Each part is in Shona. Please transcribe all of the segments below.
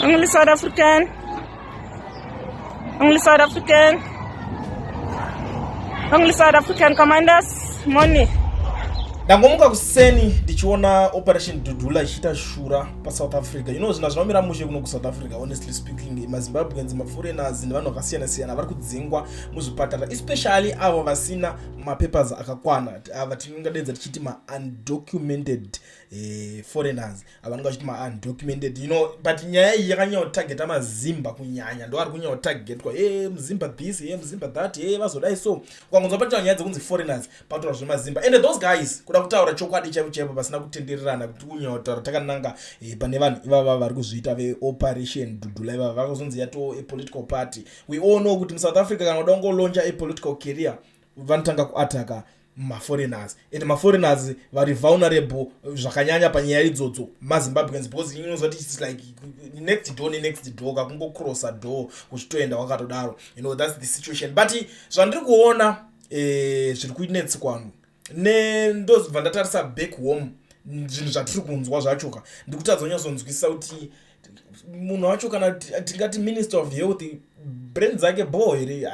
Only South African. Only South African. Only South African commanders. Money. ndangomuka kuseni ndichiona operation dudula ichiita shura pasouth africa you know zvinhu zvinomira mushe kuno kusouth africa honestly speaking mazimbabweans maforeigners nevanhu vakasiyana siyana vari kudzingwa muzvipatara especially avo vasina mapapers akakwana ava tinongadedza tichiti maundocumented eh, foreigners avanenge vachiti maundocumented you know but nyaya iyi yakanyanya kutageta mazimba kunyanya ndo ari kunyanya kutagetwa e muzimba this e muzimba that e vazodai so ukangonzwa patoa nyaya dzekunzi foreigners patoura zvemazimba and those guys kuda kutaura chokwadi chaivo chaivo pasina kutendererana kuti kunyanya kutaura takananga e, pane vanhu ivava vari kuzviita veoperation dudula ivava vakazonzi yato epolitical party we all know kuti musouth africa kana uda kungolonja epolitical career vanotanga kuataka maforeigners and maforeigners vari vulnerable zvakanyanya panyaya idzodzo mazimbabweans because inonzwa ti its like next door nenext door kakungocrossa door uchitoenda wakatodaro you know thats the situation but zvandiri kuona eh, zviri kuinetsikwanhu ne ndozibva ndatarisa back home zvinhu zvatiri kunzwa zvachoka ndikutadza kunyazonzwisisa kuti munhu wacho kana tingati minister of health brain dzake bho here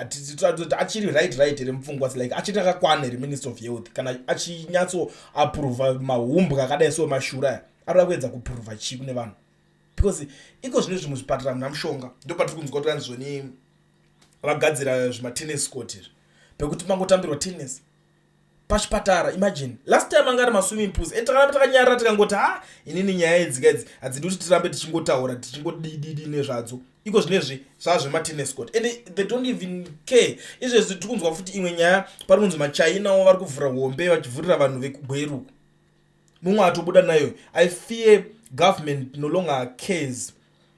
achiri right right here mupfungwa like achiti akakwana here minister of health kana achinyatso apurova mahumbwa akadai so mashura arikuda kuedza kupurova chii kune vanhu because iko zvine zvimwe zvipatara muna mushonga ndo patiri kunzwa kuti anizvoni vagadzira zvimatennis court izvi pekuti pangotambirwa tennis pachipatara imagine last time anga ari maswimming pools and takana takanyarara tikangoti ha inini nyaya idzika idzi hadzidi kuti tirambe tichingotaura tichingodididi nezvadzo iko zvinezvi zvazvematinescot and they don't even care izvezvi tiri kunzwa futi imwe nyaya pari kunzi machinawo vari kuvhura hombe vachivhurira vanhu vekugweruku mumwe atobuda nayo i fear government no longer cares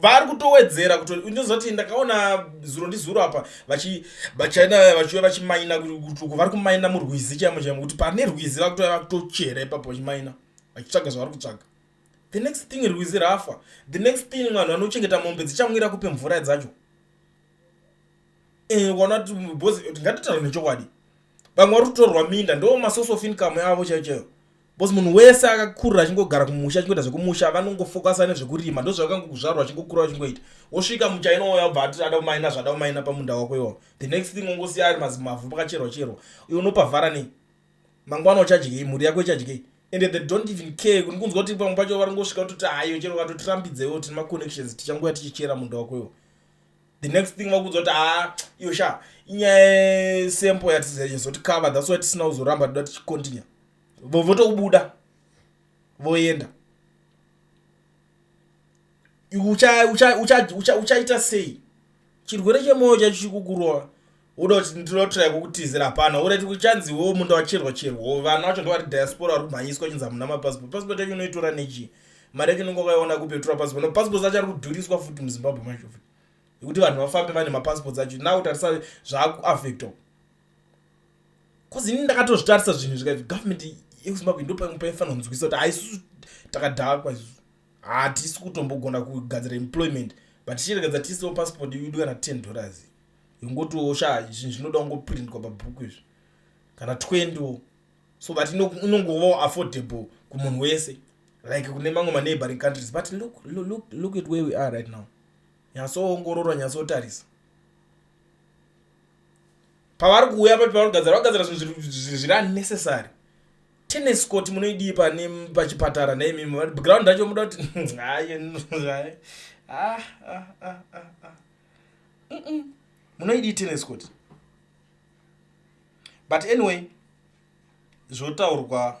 vari kutowedzera kuto unozoti ndakaona zuro ndizuro apa vachi vachina vachiuya vachimaina kutuku vari kumaina murwizi chaimo chaimo kuti pane rwizi vakutouya vakutochera ipapo vachimaina vachitsvaga zvavari kutsvaga the next thing rwizi rafa the next thing vanhu vanochengeta mombe dzichamwira kupe mvura dzacho eh, ukaona kuti bhozi tingatotaura nechokwadi vamwe vari kutorwa minda ndo masource of income yavo chaichayo bcause munhu wese akakurira achingogara kumusha achingoita zvekumusha vanongofokasa nezvekurima ndozvakangokuzvarwa achingokura achingoita wosvika muchainouya obva ati ada kumaina zvada kumaina pamunda wako iwawo the next thing ongosiya ari mazimavhu pakacherwa cherwa iwe unopavhara nei mangwana uchadyei mhuri yako ichadyei and they don't even care kuni kunzwa kuti pamwe pacho varingosvika kutoti haiyo chero vatotirambidzewo tine maconnections tichanguya tichichera munda wako iwo the next thing vakunzwa kuti haa ah, iyo sha inyaya sempo yatizoti cover that's why tisina kuzoramba toda tichicontinue votobuda voenda uchaita sei chirwere chemwoyo chacho chikukurova woda kuti ndinotirai kukutizira hapana urati uchanzi wo munda wacherwa cherwo vana vacho ndovari diaspora vari kumhanyiswa chinzi hamuna mapassport passport yacho unoitora nechii mari yacho unenge wakaiona kupi yotora passport no passports acho ari kudhuriswa futi muzimbabwe macho futi yekuti vanhu vafambe vane mapassports acho now tarisa zvaakuaffecto bcause ini ndakatozvitarisa zvinhu zvikai government yekuzimbabwe ndopaifanira kunzwisa kuti haisusu takadhakwa isusu hatisi kutombogona kugadzira employment but tichiregedza tiisiwo passport yudu kana ten dollars yongotiwo sha zvinhu zvinoda kungoprintwa pabhuku izvi kana twenty wo so that inongovawo affordable kumunhu wese like kune mamwe maneighboring countries but look, look, look at where we are right now nyasoongorora nyasotarisa pavari kuuya papi pavari kugadzira vagadzira zvinhu zviri unnecessary tennis court munoidii pane pachipatara neimimi vati ground racho muda kuti ah, ah, ah, munoidii tennis court but anyway zvotaurwa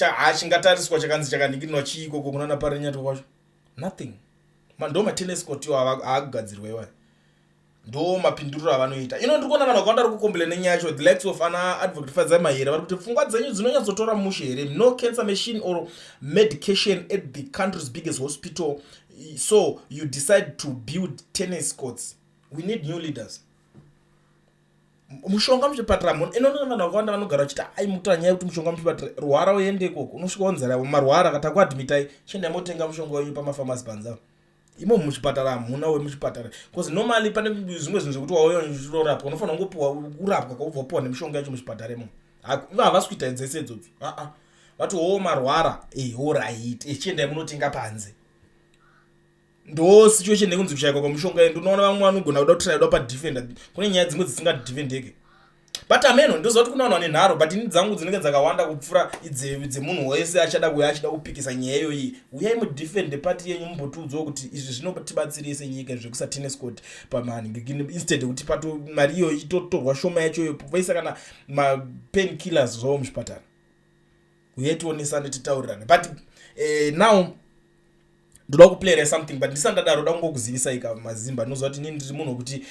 Haa chingatariswa chakanzi chakanikirinwa chii ikoko kunana parenyatwa kwacho nothing ndo matenis court yo aakugadzirwa iwaya ndo mapinduriro avanoita ino ndiri kuona vanhu vakawanda vari kukomplaina nyaya yacho the likes of ana advocate fadzai mahere vari kuti pfungwa dzenyu dzinonyatsotora mushe here no cancer machine or medication at the country's biggest hospital so you decide to build tennis courts we need new leaders mushonga muchipatara munhu ino nana vanhu vakawanda vanogara vachiti ai mutaura nyaya yekuti mushonga muchipatara rwara uende ikoko unosvika wanzara marwara kana takuadmitai chiendai motenga mushonga wenyu pamafamasi panza imo muchipatara hamuna wemuchipatara bcause normally pane zvimwe zvinhu zvekuti wauya uchirorapwa unofanira kungopiwa kurapwa kwaubva upiwa nemishonga yacho muchipatara imo ivo havasi kuita dzese idzodzo aa vati wo marwara ehoraiti echiendai munotenga panze ndo situation yekunzi kushaikwa kwamushonga ende unoona vamwe vanogona kuda kutraidwa padefender kune nyaya dzimwe dzisingadefendeke but ameno ndoziva kuti kuna vanhu vane nharo but ini dzangu dzinenge dzakawanda kupfuura dzemunhu wese achada kuya achida kupikisa nyaya iyoyi uyai mudefende pati yenyu mumbotiudzawo kuti izvi zvinotibatsirei senyika zvekusatennis court pamanhinstead yekuti pato mari iyoyi itotorwa shoma yacho iyoyo vaisa kana mapen killers zvavo muzvipatara uye tionesane titaurirane but eh, now ndoda kuplayera something but ndisati ndadaro da kungokuzivisa ika mazimba ndinoziva kuti nini ndiri munhu wekuti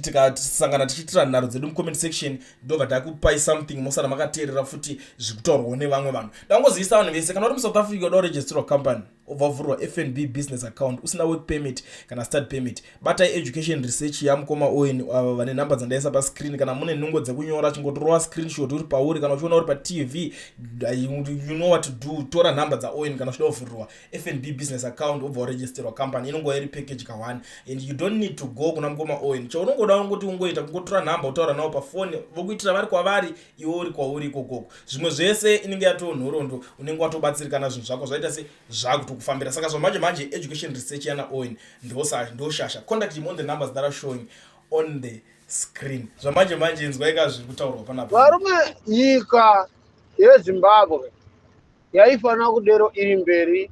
tikasangana tichiitira nharo dzedu mucomment section ndobva takupai something mosara makateerera futi zviri kutaurwawo nevamwe vanhu ndangozivisa vanhu vese kana uri musouth africa uda kuregisterwa company obva wavhurwa fnb business account usina work permit kana start permit batai education research yamukoma owen ava vane nhamba dzandaisa pascreen kana mune nhungo dzekunyora chingotorova screenshot uri pauri kana uchiona uri patv you know what to do tora nhamba dzaowen kana uchida kuvhurirwa fnb business account obva waregisterwa company inongova iri package kahwani and you don't need to go kuna mukoma owen chaunongoda ungoti ungoita kungotora nhamba utaura navo pafoni vokuitira vari kwavari iwe uri kwauri ikokoko zvimwe zvese inenge yatoo nhorondo unenge watobatsirikana zvinhu zvako zvaita se zvakutokufambira saka zvamanje manje education research yana owen ndoshasha contact him on the numbers that are showing on the screen zvamanje manje inzwaika zviri kutaurwa panapa varume nyika yezimbabwe yaifanira kudero iri mberi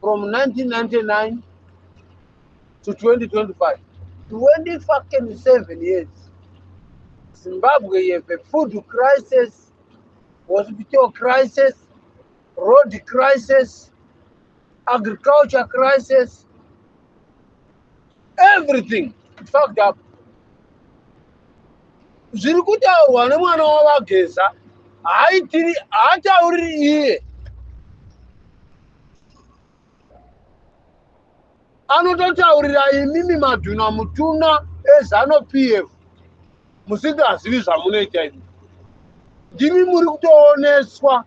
from 1999 to 2025 20 fucking 7 years zimbabwe you have a food crisis hospital crisis road crisis agriculture crisis everything fucked up zviri kutaurwa nemwana wavageza haatiri haatauriri iye anototaurira imimi madhuna mutuna ezano p f musingazivi zvamunoita imi ndimi muri kutooneswa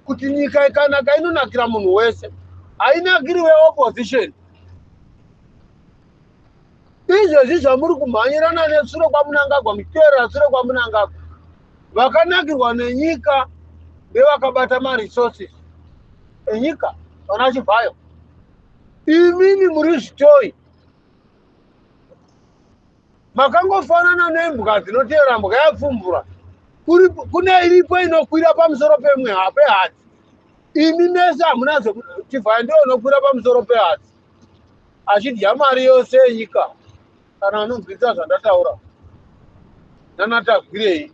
kuti nyika ikanaka inonakira munhu wese hainakiri weopposition izvozvi zvamuri kumhanyirana nesure kwamunangagwa muchiteerera sure kwamunangagwa vakanakirwa nenyika nevakabata maresources enyika vana chibvayo imimi muri zvitoi makangofanana nembwa dzinoteera mbwa yapfumbura kune iripo inokwira pamusoro pemwe pehadzi imi mese hamuna zvekutivaya ndiyo inokwira pamusoro pehadzi achidya mari yose yenyika kana anonzwidza zvandataura nanatagwirei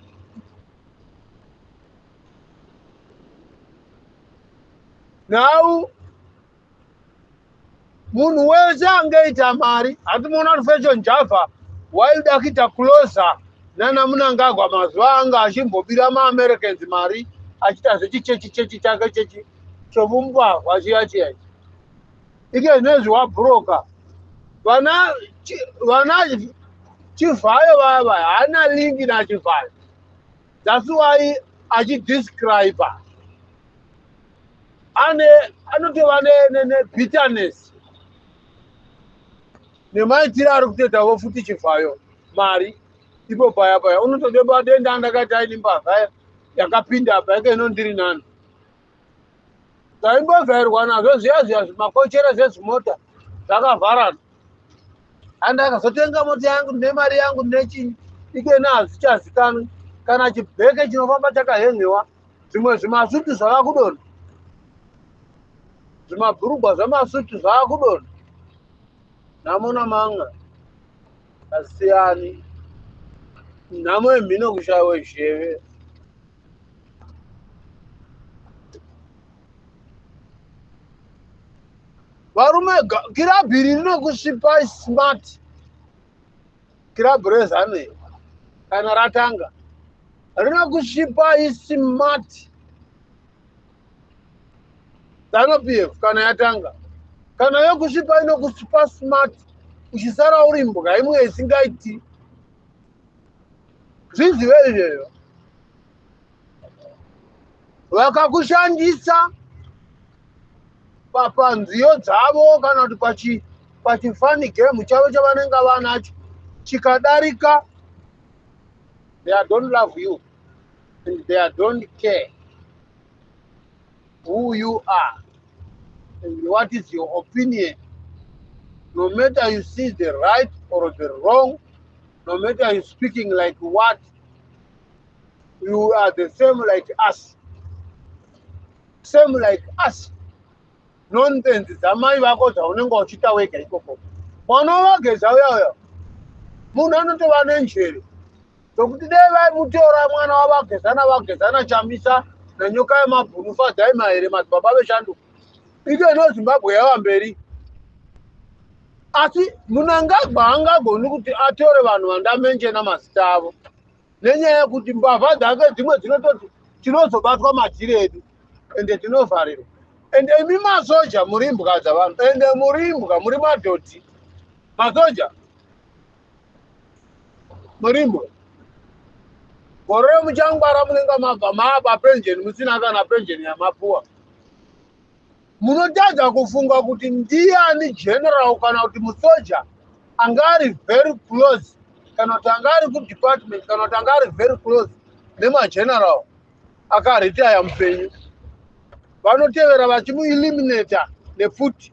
nhau munhu wese angeita mari hatimuona kuti fashion java waida kuita closa nana munangagwa mazuva anga achimbobira maamericans mari achiita zvechichechi chechi chake chechi chomumbavha chiya chiya ichi ike nezvi wa broker vana vana chivhayo vava hana link na chivhayo that's why achi describe ane anotova ne ne, ne bitterness nemaitiro ari kutoita vo futi chivhayo mari ipo paya paya unotodeba denda ndakaita ini mbavha yakapinda apa yake inondiri nani zvaimbogairwa nazvo zviya zviya zvimakochera zvezvimota zvakavharana and akazotenga mota yangu ndine mari yangu ndine chinyi ikena hazvichazikanwi kana chibheke chinofamba chakahengewa zvimwe zvimasutu zvakakudona zvimabhurugwa zvamasutu zvakakudona namona manga asiyani nhamo yemhino kushayiwa zheve varume kirabhu iri rinokusvipa smart kirabhu rezanu iri kana ratanga rinokusvipa ismart zanu p f kana yatanga kana yokusvipa inokusvipa smart uchisara uri mbwa imwe isingaiti zvizive izvezvo vakakushandisa papanziyo dzavo kana kuti pachi pachifani game chavo chavanenge vanacho chikadarika they don't love you and they don't care who you are and what is your opinion no matter you see the right or the wrong no matter you speaking like what you are the same like us same like us nonsense dzamai vako dzaunenge uchiita wega ikoko mwana wavageza uya uya munhu anotova nenjere zvokuti dai vaimutora mwana wavagezana vagezana chamisa nanyoka yemabhunu fadzai mahere madzibaba veshanduko ikeno zimbabwe yava mberi asi munangagwa angagoni kuti atore vanhu vandamenjena mazita avo nenyaya yekuti mbavha dzake dzimwe dzinototi tinozobatwa madziri edu ende tinovharirwa ende imi masoja muri mbwa dzavanhu ende muri mbwa muri madhodhi masoja murimo gore remuchangwara munenge mabva mapa penjeni musina kana penjeni yamapuwa munotadza kufunga kuti ndiani general kana kuti musoja anga ari very close kana kuti anga ari kudepartment kana kuti anga ari very close nemageneral akaritaya mupenyu vanotevera vachimueliminata nefuti